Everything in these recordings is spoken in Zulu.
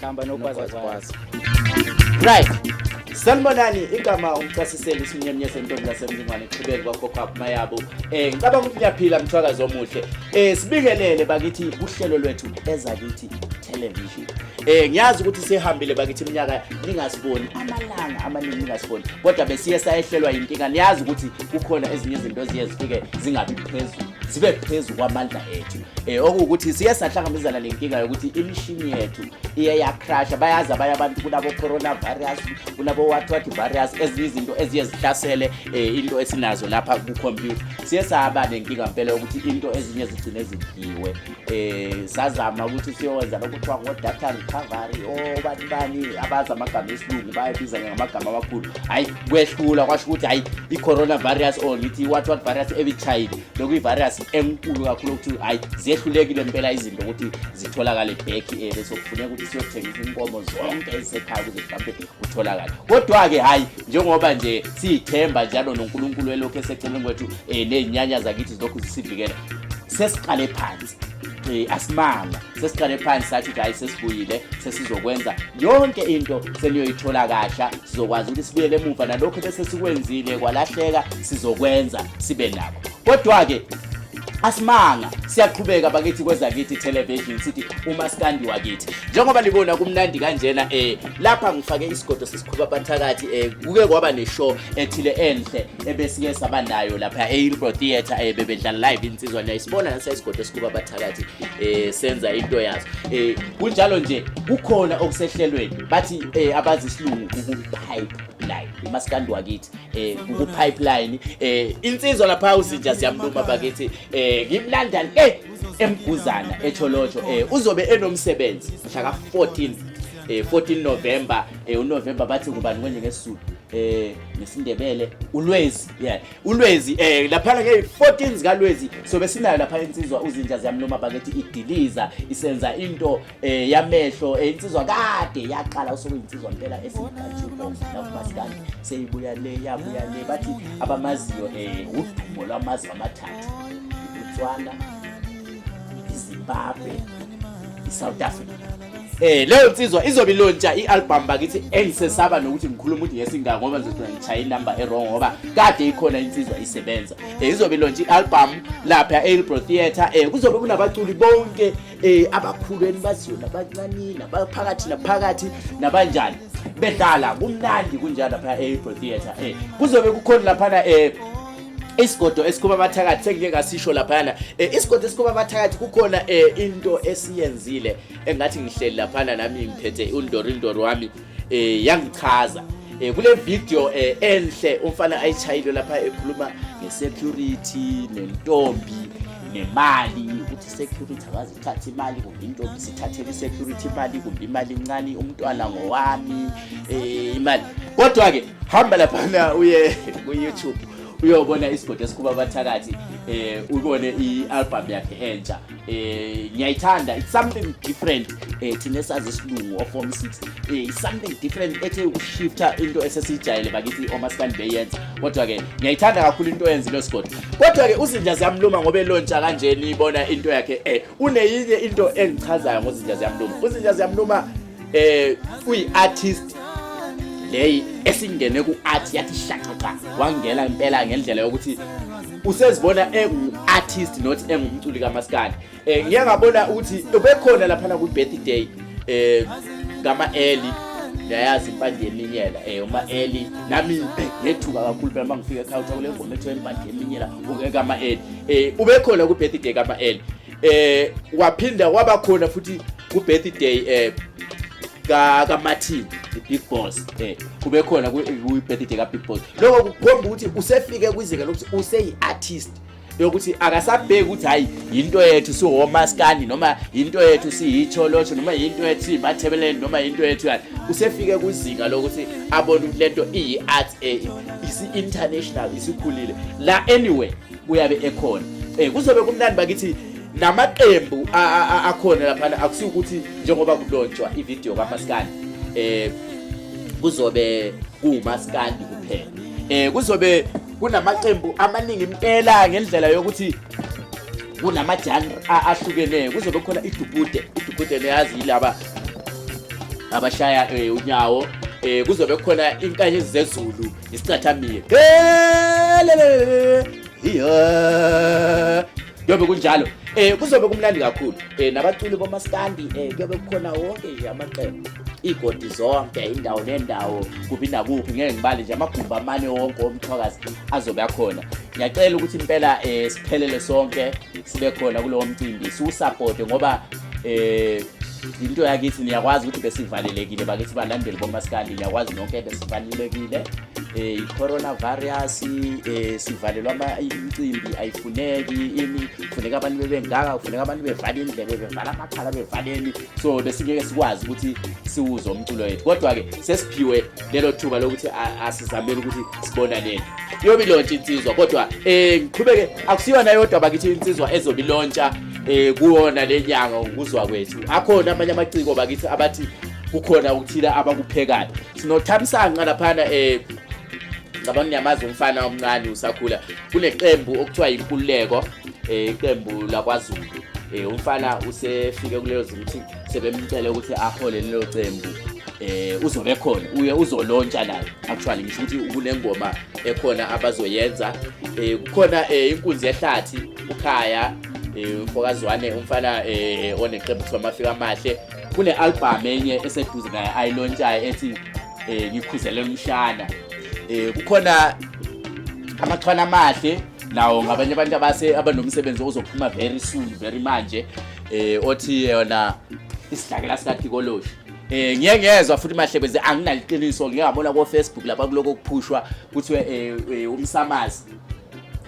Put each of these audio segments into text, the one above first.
Khamba nogwazagwaza. Right. Sanibonani igama umcasiseli isinyemnye sentombi lasemlingwane qhubeki kwakhokho mayabo eh ngicabanga ukuthi ngiyaphila mthwakazi omuhle eh sibingelele bakithi uhlelo lwethu ezakithi television eh ngiyazi ukuthi sihambile bakithi iminyaka ningasiboni amalanga amaningi ningasiboni kodwa besiye sayehlelwa inkinga niyazi ukuthi kukhona ezinye izinto eziye zifike zingabi phezulu zibe phezulu kwamandla ethu Eh okuwukuthi siye sahlangabezana nenkinga yokuthi imishini yethu iye yacrasha bayazi abanye abantu kunabo coronavirus kunabo what what virus ezinye izinto eziye zihlasele eh, into esinazo lapha ku computer siye saba nenkinga impela ukuthi into ezinye zigcine zidliwe eh sazama ukuthi siyowenza lokuthiwa ngo data recovery oh bani bani abazi amagama esilungu bayabiza ngamagama amakhulu hayi kwehlula kwasho ukuthi hayi i coronavirus or ngithi what what virus ebichayile bekuyivirus enkulu kakhulu ukuthi hayi ziyehlulekile impela izinto ukuthi zitholakale back eh, bese kufuneka ukuthi siyothengisa inkomo zonke ezisekhaya ukuze mhlawumbe kutholakale kodwa-ke hhayi njengoba nje siyithemba njalo nonkulunkulu elokhu eseceleni kwethu um eh, ney'nyanya zakithi zilokhu zisivikela sesiqale phansi um asimanga sesiqale phansi sathi ukuthi hayi sesibuyile sesizokwenza yonke into seniyoyithola kasha sizokwazi ukuthi sibuyele emuva nalokho bese sikwenzile kwalahleka sizokwenza sibe nakho kodwa-ke asimanga siyaqhubeka bakithi kwezakithi television sithi umaskandi wakithi njengoba libona kumnandi kanjena eh lapha ngifake isigodo sesikhuba bathakathi eh kuke kwaba neshow ethile enhle ebesike sabanayo lapha eHillbrow Theatre eh bebedlala live insizwa niyayisibona nase isigodo sesikhuba bathakathi eh senza into yazo eh kunjalo nje kukhona okusehlelweni bathi eh abazi isilungu ukupipeline umaskandi wakithi eh ukupipeline eh insizwa lapha uzinja siyamluma bakithi eh ngimlanda le emguzana echolotsho eh uzobe enomsebenzi mhla ka 14 eh 14 November eh uNovember bathi kubani kwenye ngesizulu eh ngesindebele ulwezi yeah ulwezi eh laphana ke 14 zikalwezi sobe sinayo lapha insizwa uzinja ziyamluma bakethi idiliza isenza into eh yamehlo eh, insizwa kade yaqala usuku insizwa impela esingajuko nakuba sikani seyibuya le yabuya le bathi abamaziyo eh udumo lwamazi amathathu uTswana iZimbabwe iSouth Africa Eh leyo nsizwa izobe ilontsha i-album bakithi engisesaba nokuthi ngikhuluma ukuthi ngesingaka ngoba ngizothola ngishaya inumber e-wrong ngoba kade ikhona insizwa isebenza. Eh izobe ilontsha i-album lapha e-Elbro Theatre. Eh kuzobe kunabaculi bonke eh abakhulu enibaziyo nabancane nabaphakathi naphakathi nabanjani. Bedlala kumnandi kunjalo lapha e-Elbro Theatre. Eh kuzobe kukhona lapha eh isigodo esikhuma abathakathi sengike ngasisho laphana eh, isigodo esikhuma abathakathi kukhona eh, into esiyenzile engathi ngihleli laphana nami ngiphethe undorindoro wami eh, yangichaza kule video enhle umfana ayishayile lapha ekhuluma ngesecurity nentombi nemali ukuthi security akazi thatha imali kumbe intombi sithathele isecurity imali kumbe imali incane umntwana ngowami um imali kodwa-ke hamba laphana uye kuyoutube uyobona isigodi esikhupha abathakathi eh ubone i-album yakhe entsha eh ngiyayithanda it's something different eh thina sazi isilungu of form 6 eh something different ethe ukushifta into esesijayele bakithi omasikandi beyenza Kodwa-ke ngiyayithanda kakhulu into oyenzile osigodi. Kodwa-ke uzinja ziyamluma ngoba elontsha kanjena ibona into yakhe eh uneyinye into engichazayo ngozinja ziyamluma. Uzinja ziyamluma eh uyi-artist leyi esingene ku-art yathi shaqaqa wangena impela ngendlela yokuthi usezibona engu-artist not engumculi kamaskandi eh ngiya ngabona ukuthi ubekhona lapha na ku birthday eh ngama early yayazi impandeminyela eh uma early nami ngethuka kakhulu phela mangifika ekhaya uthola le ngoma ethiwa impandeminyela ungeka ama early eh ubekhona ku birthday kama early eh waphinda waba khona futhi ku birthday eh ka ka Martin the big boss eh kube khona ku birthday ka big boss lokho kukhomba ukuthi usefike kwizinga lokuthi useyi artist yokuthi akasabheki ukuthi hayi yinto yethu siwomaskandi noma yinto yethu siyitholosho noma yinto yethu siyimathebeleni noma yinto yethu yani usefike kuzinga lokuthi abone ukuthi lento iyi-art e, isi-international isikhulile la anyway kuyabe ekhona um kuzobe kumnandi bakithi namaqembu akhona laphana akusiyo ukuthi njengoba kulontshwa ividiyo kamaskandi um kuzobe kuwumaskandi kuphela um kuzobe kunamaqembu amaningi impela ngendlela yokuthi kunamajanr ahlukeneyo kuzobe khona idubude idubude neyazi yilaba abashaya um eh, unyawo um eh, kuzobe khona inkanye zezulu isicathamile kuyobe kunjalo um kuzobe kumnandi kakhulu um nabaculi bomaskandi um kuyobe kukhona wonke nje amaqembu iigodi zonke indawo nendawo kuphi nakuphi ngeke ngibale nje amagumbi amane wonke omthwakazi azobe akhona ngiyacela ukuthi impela um siphelele sonke sibe khona kulowo mcimbi siwusapote ngoba um into yakithi niyakwazi ukuthi besivalelekile bakithi balandeli bomasikandi niyakwazi nonke besivalelekile um i-coronavirus um sivalelwa imicimbi ayifuneki ini kufuneka abantu bebengaka kufuneka abantu bevale indlebe bevala amakhala bevaleni so besingeke sikwazi ukuthi siwuze umculo wethu kodwa-ke sesiphiwe lelo thuba lokuthi asizamele ukuthi sibonaneni yobe ilontsha insizwa kodwa um eh, ngiqhubeke akusiyona yodwa bakithi insizwa ezobe ilontsha um kuwona le nyanga ukuzwa kwethu akhona amanye amaciko bakithi abathi kukhona ukuthile abakuphekayo sinothamsanqa laphana um ngicabanga niyamazi umfana omncane usakhula kuneqembu okuthiwa yinkululeko eh, iqembu um, lakwazulu um, umfana usefike kuleyo zimo ukuthi sebemcele ukuthi ahole lelo qembu eh uzobe khona uye uzolontsha naye actually ngisho ukuthi kunengoma ekhona abazoyenza eh kukhona eh, inkunzi yehlathi ukhaya eh, umfokazwane umfana eh, oneqembu kuthiwa amafika amahle kune-albhamu enye eseduze naye ayilontshayo ethi um ngikhuzelela umshana um kukhona amachwana amahle nawo ngabanye abantu abase abanomsebenzi ozophuma very soon very manje eh othi yona isidlakela sikathikoloshe Eh ngiye ngezwa futhi mahlebeze anginaliqiniso ngeke ngabona ko Facebook lapha kuloko kuphushwa kuthiwe eh, eh umsamazi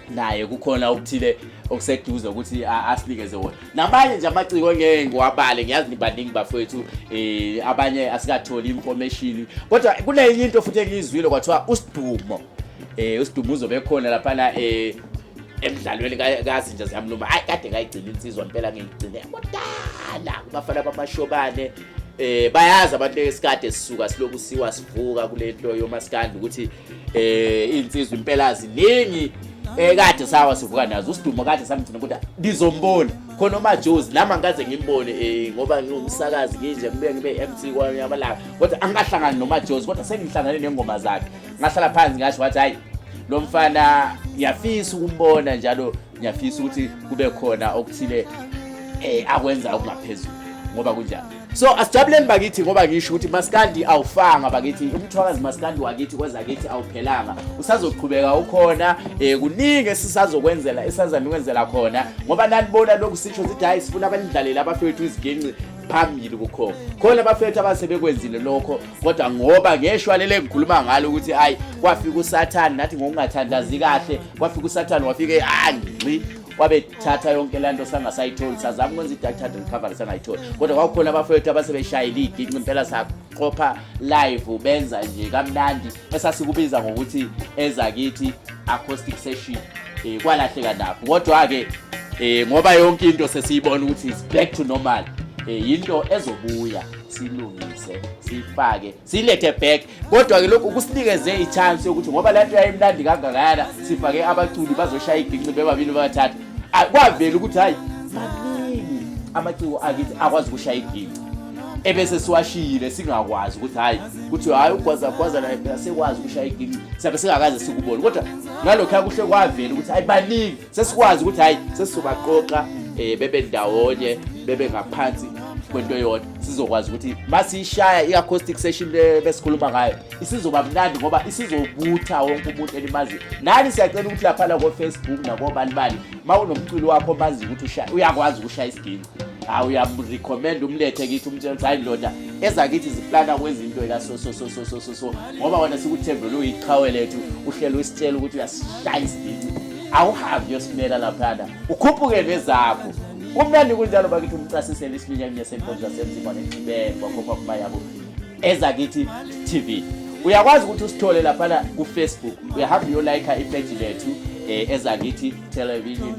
naye kukhona okuthile okuseduze ukuthi asinikeze wona nabanye nje amaciko ngeke ngiwabale ngiyazi nibaningi bafowethu eh abanye asikatholi information kodwa kunenye into futhi engiyizwile kwathiwa usidumo eh usidumuzo bekhona lapha na eh emdlalweni kazinja ziyamluma hayi kade ngayigcina insizwa impela ngiyigcine kudala kubafana bamashobane eh bayazi abantu esikade sisuka siloku siwa sivuka kule nto yomaskandi ukuthi eh insizwa impela ziningi ekade eh, sawa sivuka nazo usidumo kade samthina ukuthi ngizombona khona umajozi nami angikaze ngimbone um ngoba ngiwumsakazi nginje ngibuye ngibe-mc kwamanye amalanga kodwa angikahlangani nomajozi kodwa sengihlangane nengoma zakhe ngahlala phansi ngasho wathi hayi lo mfana ngiyafisa ukumbona njalo ngiyafisa ukuthi kube khona okuthile eh akwenza okungaphezulu ngoba kunjalo so asijabuleni bakithi ngoba ngisho ukuthi maskandi awufanga bakithi umthwakazi maskandi wakithi kweza kithi awuphelanga usazoqhubeka ukhona eh kuningi esisazokwenzela esazama ukwenzela khona ngoba nanibona lokhu sisho sithi hayi sifuna abanidlalele abafethu iziginci phambili kukhona khona abafethu abasebekwenzile lokho kodwa ngoba ngeshwa lele ngikhuluma ngalo ukuthi hayi kwafika usathane nathi ngokungathandazi kahle kwafika usathane wafike angxi wabethatha yonke le nto sangasayitholi sazama ukwenza i-dactard recovery sangayitholi kodwa kwakukhona abafowethu abasebeshayile iyiginci impela saqopha live benza nje kamnandi esasikubiza ngokuthi ezakithi acoustic session um kwalahleka nakho kodwa-ke um ngoba yonke into sesiyibona ukuthi is back to normal um yinto ezobuya silungise siyifake siyilethe back kodwa ke lokhu kusinikeze ichance yokuthi ngoba le nto yayimnandi kangakayana sifake abaculi bazoshaya ibhinci bebabili babathathu kwavela ukuthi hhayi maningi amaciko akithi akwazi ukushaya ibhinci ebese siwashiyile singakwazi ukuthi hhayi kuthi hhayi ugwazagwaza naye phela sekwazi ukushaya iginci sabe singakaze sikubone kodwa ngalokhu akuhle kwavela ukuthi hhayi baningi sesikwazi ukuthi hayi sesizobaqoqa eh bebe ndawonye bebe ngaphansi kwento eyodwa sizokwazi ukuthi masiyishaya i-acoustic session le besikhuluma ngayo isizoba mnandi ngoba isizobutha wonke umuntu elimazi nani siyacela ukuthi laphana kofacebook nakobanibani ma unomculi wakho omazi ukuthi uyakwazi ukushaya isiginci hawu uyamrecommenda umlethe kithi umtshela ukuthi hayi ndoda ezakithi ziplana kwezinto ekasosososososo ngoba wona sikuthembele uyiqhawe lethu uhlele usitshela ukuthi uyasishaya isidici awuhambi uyosimela laphana ukhuphuke nezakho kumnandi kunjalo bakithi umcasisele isiminyaka nesenkonzo yasemzimba nexibele kwakhokha kuba yabo ezakithi tv uyakwazi ukuthi usithole laphana kufacebook uyahamba uyolayikha ipeji lethu um ezakithi television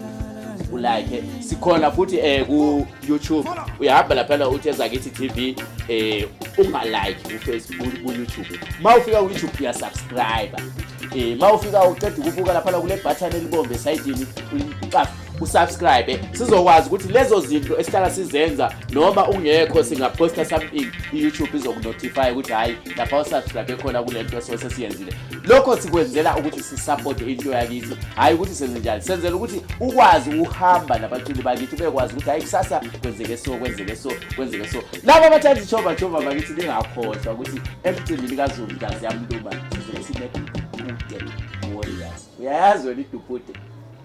ulike sikhona futhi eh ku YouTube uyahamba laphana uthi ezakithi TV eh ungalike ku Facebook ku YouTube mawufika ku YouTube uya subscribe eh mawufika uqeda ukubuka laphana kule button elibombe esayidini ulicafa usubscribe sizokwazi ukuthi lezo zinto esihlala sizenza noma ungekho singaposta something i-youtube izokunotify ukuthi hhayi lapha usubscribe khona kule nto esose siyenzile lokho sikwenzela ukuthi sisapote into yakithi hhayi ukuthi senze njani senzela ukuthi ukwazi ukuhamba nabaculi bakithi ubekwazi ukuthi hhayi kusasa kwenzeke so kwenzeke so kwenzeke so laba abathanda ijova jova bakithi ningakhohlwa ukuthi emcimbini kazulu ntazi yamluma sizobe sinedupude warriors uyayazi wena idupude